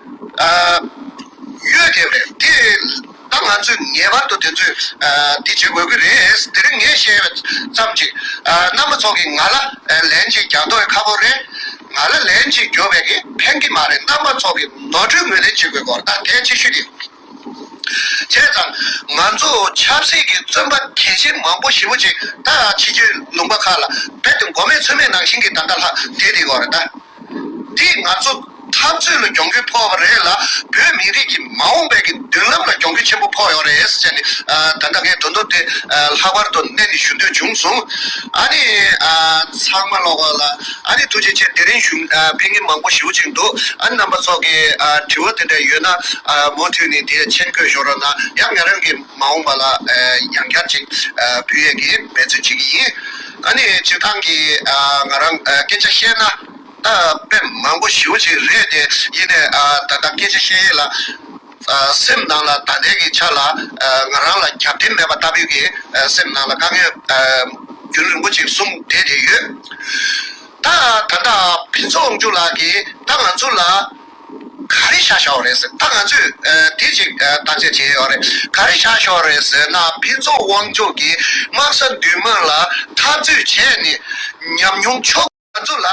ཡོད་དེ་རེད་དེ། ད་ང་ཚོས་ངེས་པར་དུ་དེ་ཚོས་འདི་བྱེད་དགོས་ཀྱི་རེད། དེ་རིང་ངས་བཤད་ཙམ་གྱིས་རྣམ་པ་ཚོ་གིས་ང་ལ་ལན་ཅིག་རྒྱག་འདོད་ཁ་པོ་རེད། ང་ལ་ལན་ཅིག་རྒྱོབ་པའི་གི་ཕན་གི་མ་རེད་རྣམ་པ་ཚོ་གིས་ནོར་འཁྲུལ་ངོས་ལེན་བྱེད་དགོས་སྐོར་ད་ཐེངས་ཅིག་ཞུས་ཏེ། བྱས་ཙང་ང་ཚོ་ཆབ་སྲིད་ཀྱི་བཙོན་པ་གལ་ཆེན་མང་པོ་ཞིབ་མོ་ཅིག་ད་ཕྱི་རྒྱུད་ལུང་པ་ཁག་ལ་བེད་དེ་མགོ་མེད་ཚོད་མེད་ནང་བཞིན་གྱི་ད་ལྟ་ལྷག་བསྡད་དེ་སྐོར་རེད་ད། འདིས་ང་ཚོ་འཐབ་རྩོད་ལ་གྱོང་གུད་ཕོག་པ་རེད་ལ་བོད་མི་རིགས་ཀྱི་མ་འོངས་པའི་མདུན་ལམ་ལ་གྱོང་གུད་ཆེན་པོ་ཕོག་ཡོད་རེད་ཟེར་ནས་ད་ལྟ་ངས་དོན་དུ་དེ་ལྷག་པར་དུ་གནད་ནས་ཞུ་འདོད་བྱུང་སོང། ཨ་ནི། ཚང་མ་ཀློག་པ་ལ་ཨ་ནི་ཐུགས་རྗེ་ཆེ་དེ་རིང་གཞུང་འཕེན་མཁན་མང་པོ་ཞིའུ་ཅིག་འདུག་ཨ་ནི་རྣམ་པ་ཚོགས་ཀྱི་དྲི་བ་དེ་འདྲ་ཡོད་ན་མུ་མཐུད་ནས་དེ་མཆན་བཀོད་ཞོར་རོགས་གནང་ཡང་ང་རང་གིས་མ་འོངས་པ་ལ་ཡང་བསྐྱར་ཅིག་འབུལ་ཡས་ཀྱིས་འབད་བརྩོན་བྱེད་ཀྱི་ཡིན། ད་ནི་བྱེད་སྟངས་ཀྱི་ང་རང་སྐད་ཆ་བཤད་ན། དཔེ་མང་པོ་ཞིབ་ཅིག་རེད་དེ་ཡིན་ནས་ད་ལྟ་སྐད་ཆ་བཤད་ཡས་ལ། སེམས་ནང་ལ་ད་ལྟའི་གི་ཆ་ལ་ང་རང་ལ་རྒྱབ་རྟེན་མེད་པ་ལྟ་བུའི་གི་སེམས་ནང་ལ་དཀའ་ངལ་རྒྱུན་རིང་པོ་ཅིག་གསུམ་བསྡད་དེ་ཡོད། ད་ད་ལྟ་བི་མཚོ་དབང་ཕྱུག་ལགས་ཀྱིས་ད་ང་ཚོ་ལ་ག་རེ་བྱ་ཞོག་རེད་ཟེར་ད་ང་ཚོས་དེ་གཅིག་བརྟག་དཔྱད་བྱས་ཡོད་རེད་ག་རེ་བྱ་ཞོག་རེད་ཟེར་ན་ཕུན་ཚོགས་དབང་ཕྱུག་གིས་དམག་ས་མདུན་མ་ལ་འཐབ་རྩོད་བྱས་ནས་ཉམས་མྱོང་ཕྱོགས་ང་ཚོ་ལ་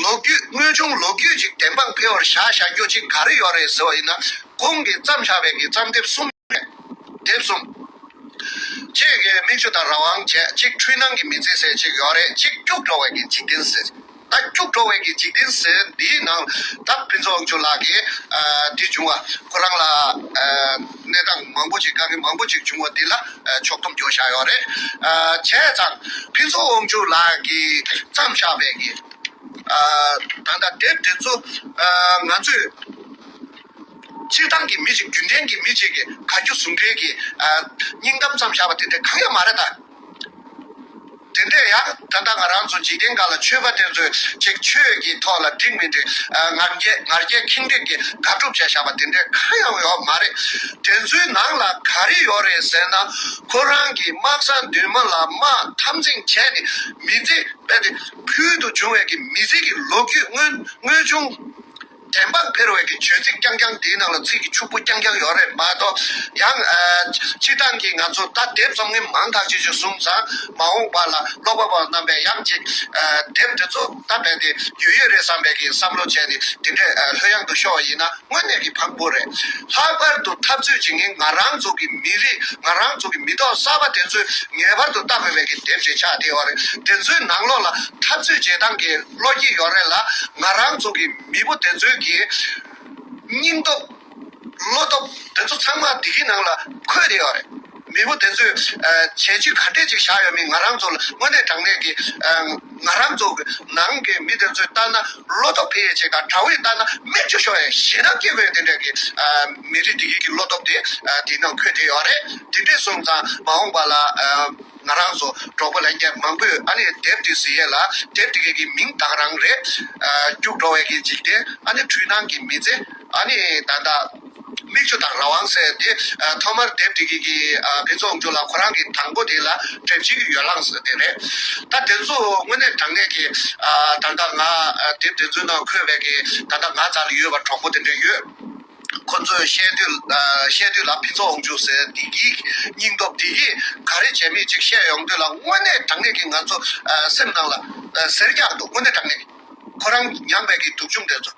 ལོ་རྒྱུས་དངོས་བྱུང་ལོ་རྒྱུས་ཅིག་བདེན་དཔང་འཕེལ་བར་བྱ་བྱ་རྒྱུ་ཅིག་ག་རེ་ཡོད་རེད་ཟེར་བ་ཡིན་ན་གོང་གི་བརྩམས་བྱ་བའི་གི་བརྩམས་དེབ་གསུམ་ཡོད་རེད་དེབ་གསུམ་གཅིག་གི་མིག་ཆུ་དང་རང་དབང་བྱེད་གཅིག་འཁྲུལ་སྣང་གི་མི་ཚེ་ཟེར་གཅིག་ཡོད་རེད་གཅིག་སྐྱུག་བྲོ་བའི་གི་འཇིག་རྟེན་ཟེར། ད་སྐྱུག་བྲོ་བའི་གི་འཇིག་རྟེན་ཟེར་འདིའི་ནང་ད་ཕུན་ཚོགས་དབང་ཕྱུག་ལགས་ཀྱིས་འདི་བྱུང་བ་ཁོ་རང་ལ་གནས་སྟངས་མང་པོ་ཅིག་དཀའ་ངལ་མང་པོ་ཅིག་བྱུང་བ་འདི་ལ་ཕྱོགས་སྡོམ་རྒྱོ་བཞག་ཡོད་རེད། བྱས་ཙང་ཕུན་ཚོགས་དབང་ཕྱུག་ལགས་ཀྱིས་བརྩམས་བཞག་པའི་གི་ད་ལྟ་དེབ་དེ་ཚོ་ང་ཚོས་སྤྱིར་བཏང་གི་མི་ཞིག་རྒྱུན་ལྡན་གྱི་མི་ཞིག་གིས་ག་རྒྱུ་ཟུང་འབྲེལ་གྱིས་སྙིང་གཏམ་བརྩམས་བཞག་པ་དེ་འདྲ་གང་ཡང་མ་རེད་ད། དེ་འདྲས་ཡང་ད་ལྟ་ང་རང་ཚོ་འཇིག་རྟེན་འགའ་ལ་ཆོས་པ་དེ་ཚོས་ཅིག་ཆོས་ཀྱི་ཐོག་ལ་འགྲིག་མི་འགྲིག་ངར་རྒྱས་ངར་རྒྱས་ཁེངས་དྲེགས་ཀྱི་དགག་སྒྲུབ་བྱས་བཞག་པ་དེ་འདྲས་གང་ཡང་ཡོད་མ་རེད། དེ་ཚོའི་ནང་ལ་ག་རེ་ཡོད་རེད་ཟེར་ན་ཁོ་རང་གིས་དམག་ས་མདུན་མ་ལ་དམག་འཐབ་འཛིང་བྱས་ནས་མི་ཚེ་སྤེལ་ཏེ་ཕུལ་དུ་བྱུང་བའི་གི་མི་ཚེ་གི་ལོ་རྒྱུས་དངོས་བྱུང། དྲན་པ་འཕེར་བའི་གི་བྱོལ་ཚིག་རྐྱང་རྐྱང་དེའི་ནང་ལ་ཚིག་གི་ཕྱུག་པོ་རྐྱང་རྐྱང་ཡོད་རེད་མ་གཏོགས། ཡང། སྤྱིར་བཏང་གི་ང་ཚོ་ད་དེབ་རྩོམ་མཁན་མང་དག་ཅིག་ཅིག་གསུངས་ཙང་མ་འོངས་པ་ལ་ཀློག་པ་པོ་རྣམ་པས་ཡང་ཅིག། དེབ་འདི་ཚོ་ད་རྦད་དེ་ཡོད་ཡོད་རེད་བསམ་པའི་གི་བསམ་བློ་བྱས་ནས་དེ་འདྲའི་ལྷོད་གཡང་དུ་ཤོར་བ་ཡིན་ན་དངོས་གནས་གི་ཕག་པོ་རེད། ལྷག་པར་དུ་འཐབ་རྩོད་བྱེད་མཁན་ང་རང་ཚོ་གི་མི་རིགས་ང་རང་ཚོ་གི་མི་ཐོག་གསར་པ་དེ་ཚོས་ངེས་པར་དུ་བལྟ་དགོས་པའི་གི་དེབ་ཅིག་ཆགས་བསྡད་ཡོད་རེད། དེ་ཚོའི་ནང་ལོགས་ལ་འཐབ་རྩོད་བྱེད་སྟངས་གི། བློ་སྐྱིད་ཡོང་རེ་ལ་ང་རང་ཚོ་གི་མི་བུ་དེ་ཚོའི་གི་སྙིང་སྟོབས། བློ་སྟོབས་དེ་ཚོ་ཚང་མ་འདི་གི་ནང་ལ་འཁོད་བསྡད་ཡོད་རེད། མི་བུ་དེ་ཚོས་བྱས་རྗེས་ག་འདྲས་ཅིག་བཞག་ཡོད་མིན་ང་རང་ཚོ་ལ་དངོས་གནས་དྲང་གནས་ཀྱི་ང་རང་ཚོ་གི་ནང་གི་མི་དེ་ཚོས་ལྟ་ན་བློ་སྟོབས་འཕེལ་ཡས་ཆེ་དང་དྲ་བས་ལྟ་ན་སྨད་བཅོས་ཤོར་ཡས་ཞེ་སྡང་སྐྱེ་དགོས་ཡས་དེ་འདྲས་ཀྱི་མི་རིགས་འདི་གི་གི་བློ་སྟོབས་དེ་དེ་ནང་འཁོད་བསྡད་ཡོད་རེད་དེ་འདྲས་སོང་ཙང་མ་འོངས་པ་ལ། ང་རང་ཚོ་གྲོགས་པོ་ལས་ཀྱི་མང་པོས་ཨ་ནི་དེབ་འདི་ཟིན་ཡས་ལ་དེབ་འདི་ག་གི་མིང་བཏགས་རང་རེད། སྐྱུག་བྲོ་བས་ཀྱི་འཇིག་རྟེན་ཨ་ནི་འཁྲུལ་སྣང་གི་མི་ཚེ་ཨ་ནི་ད་ལྟ། མིག་ཆུ་དང་རང་དབང་ཟེར་དེ་ཐོག་མར་དེབ་འདི་ག་གི་ཕན་ཚུན་འོང་རྒྱུ་ལ་ཁོ་རང་གི་དང་པོ་དེ་ལ་དྲན་བྱེད་ཀྱི་ཡོ་ལངས་ཟེར་དེ་རེད། ད་དེ་ཚོ་དངོས་གནས་དྲང་གནས་ཀྱི། ད་ལྟ་ང་དེབ་དེ་ཚོའི་ནང་འཁོད་བས་ཀྱི་ད་ལྟ་ང་ཙར་ལ་ཡོད་པ་གྲོགས་པོ་དེ་འདྲ་ཡོད། ཁོ་ཚོས་བཤད་དུས་ལ་ཕུན་ཚོགས་འོང་ཆུག་ཟེར་བདེ་སྐྱིད་སྙིང་སྟོབས་དེ་ཡིས་ག་རེ་བྱས་མིན་ཅིག་བཤད་ཡོང་དུས་ལ་དངོས་གནས་དྲང་ངེས་ཀྱི་ང་ཚོ་སེམས་ནང་ལ་ཟེར་རྒྱག་འདུག་དངོས་གནས་དྲང་ངེས་ཁོ་རང་མྱངས་པའི་གི་དུག་ཆུང་དེ་ཚོ།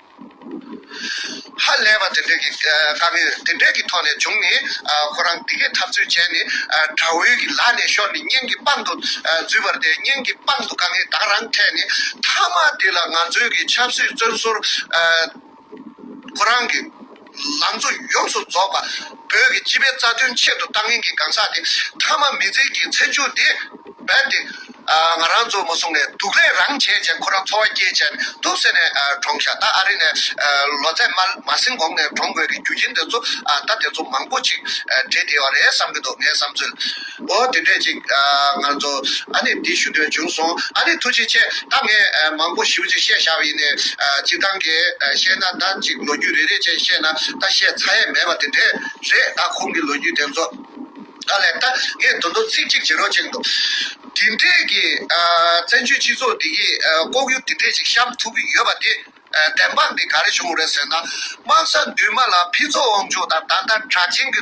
ཧ་ལས་པ་དེ་འདྲས་ཀྱི་དཀའ་ངལ་དེ་འདྲས་ཀྱི་ཐོག་ནས་བྱུང་ནས་ཁོ་རང་འདི་གས་ཐབས་ཚུལ་བྱས་ནས་དགྲ་བོའི་གི་ལག་ནས་ཤོར་ནས་གཉེན་གྱི་པང་དུ་འཛུལ་བར་དེ་གཉེན་གྱི་པང་དུ་དཀའ་ངལ་དག་རང་འཕྲད་ནས་མཐའ་མ་དེ་ལ་ང་ཚོའི་གི་ཆབ་སྲིད་བཙོན་ཟུར་ཁོ་རང་གི་ལང་ཚོ་ཡོངས་སུ་རྫོགས་པ་བོད་ཀྱི་སྤྱི་པའི་རྩ་དོན་ཆེད་དུ་ལྟ་ངན་གྱི་གང་ཟག་དེ་མཐའ་མ་མི་ཚེ་ཀྱི་ཚེ་མཇུག་དེ་རྦད་དེ་ང་རང་ཚོ་མ་སོང་ནས་སྡུག་ལས་རང་བྱས་ཅན་ཁོ་རང་འཚོ་བ་སྐྱེལ་ཅན་འདུག་ཟེར་ནས་གྲོངས་ཤག་ད་ཨ་རི་ནས་ལོ་ཚད་མ་མ་ཟིན་གོང་ནས་གྲོངས་དགོས་ཀྱི་རྒྱུ་རྐྱེན་དེ་ཚོ་ད་དེ་ཚོ་མང་པོ་ཅིག་འདྲེས་བསྡད་བ་རེད་བསམ་གྱི་འདུག་ངའི་བསམ་ཚུལ། འོ་དེ་འདྲས་ཅིག། ང་ཚོ་ཨ་ནེ་འདི་ཞུ་འདོད་བྱུང་སོང། ཨ་ནེ་ཐུགས་རྗེ་ཆེ། ད་ངས་མང་པོ་ཞིབ་ཅིག་བཤད་བཞག་པ་ཡིན། གཅིག་ཐང་གས་བཤད་ན་ད་ཅིག་ལོ་རྒྱུས་རེ་རེ་བཅས་བཤད་ན་ད་བཤད་ཚར་ཡས་མེད་པ་དེ་འདྲས་རེད་ད་ཁོང་གི་ལོ་རྒྱུས་དེ་ཚོ། ད་ལེགས་ད་ངས་དོ་འདོ་ཚིག་གཅིག་བྱེད་རོགས་གཅིག་འདུག། དེ་འདྲས་ཀྱི། བཙན་བྱོལ་སྤྱི་ཚོགས་འདི་གི་ལྐོག་གཡོ་དེ་འདྲས་ཅིག་བཤམས་ཐུབ་ཀྱི་ཡོད་པ་དེ། བདེན་དཔང་དེ་ག་རེ་བྱུང་རེད་ཟེར་ན། དམག་ས་མདུན་མ་ལ་ཕི་ཚོགས་དབང་ཕྱུག་དང་ད་ལྟ་དྲག་ཆེན་གྱི།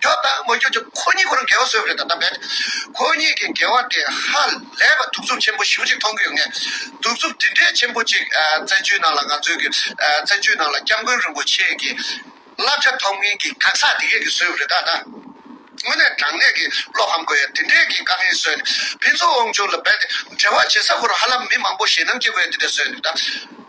ད་ལྟ་མ་གྱུར་ཀྱང་ཁོ་གཉིས་ཁོ་རང་འགལ་བ་བཟོས་པ་རེད་ད་ལྟ་འབད། ཁོ་གཉིས་ཀྱི་འགལ་བ་དེ་ཧ་ལས་པ་གདུག་རྩུབ་ཆེན་པོ་ཞིག་མཐོང་གི་ཡོད་ངེས། གདུག་རྩུབ་འདི་འདྲའི་ཆེན་པོ་ཅིག་བཙན་བྱོལ་ནང་ལ་ང་ཚོའི་བཙན་བྱོལ་ནང་ལ་སྐྱབས་མགོན་རིན་པོ་ཆེ་གི་བསླབ་བྱ་ཐོབ་མཁན་གྱི་གང་ཟག་དེ་གས་ཀྱིས་བཟོས་པ་རེད་ད་ལྟ། དངོས་གནས་དྲང་གནས་ཀྱི་བློ་ཕམ་དགོས་ཡ་དེ་འདྲའི་གི་དཀའ་ངལ་བཟོས་ནས་ཕན་ཚུན་དབང་བྱུང་ལ་འབད་དེ་འབྲེལ་བ་བྱེད་ས་ཁོ་རང་ཧ་ལམ་མི་མང་པོ་ཞེད་སྣང་སྐྱེ་དགོས་ཡ་དེ་འདྲ་བཟོས་ནས་ད།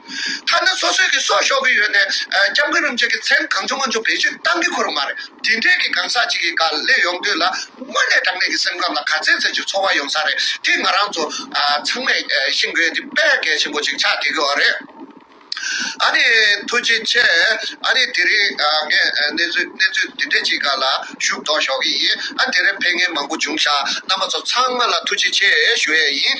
མཐའ་ན་སོ་སོས་ཀྱི་སྲོག་ཤོར་གྱི་ཡོད་ནས་སྐྱབས་མགོན་རིན་པོ་ཆེ་གི་མཚན་གང་བྱུང་གང་བྱུང་བེད་སྤྱོད་གཏང་གི་ཁོ་རང་མ་རེད་དེ་འདྲས་ཀྱི་གང་ཟག་ཅིག་གི་ག་ལེ་ཡོང་དུས་ལ་དངོས་ནས་དྲང་གནས་ཀྱི་སེམས་ཁམས་ལ་ག་ཚད་ཚད་ཀྱི་ཚོར་བ་ཡོང་ས་རེད་དེ་ང་རང་ཚོ་ཚང་མས་ཤིང་བརྒལ་གྱི་དཔལ་བརྒལ་ཆེན་པོ་ཅིག་ཆགས་བསྡད་ཀྱི་བ་རེད། ཨ་ནི་ཐུགས་རྗེ་ཆེ། ཨ་ནི་དེ་རིང་ངས་གནས་ཚུལ་གནས་ཚུལ་འདི་འདྲས་ཅིག་ག་ལ་ཞུ་དོགས་ཞོག་གི་ཡིན་ཨ་དེ་རིང་ཕན་ངན་མང་པོ་བྱུང་ཤག་རྣམ་པ་ཚོ་ཚང་མ་ལ་ཐུགས་རྗེ་ཆེ་ཞུ་ཡས་ཡིན།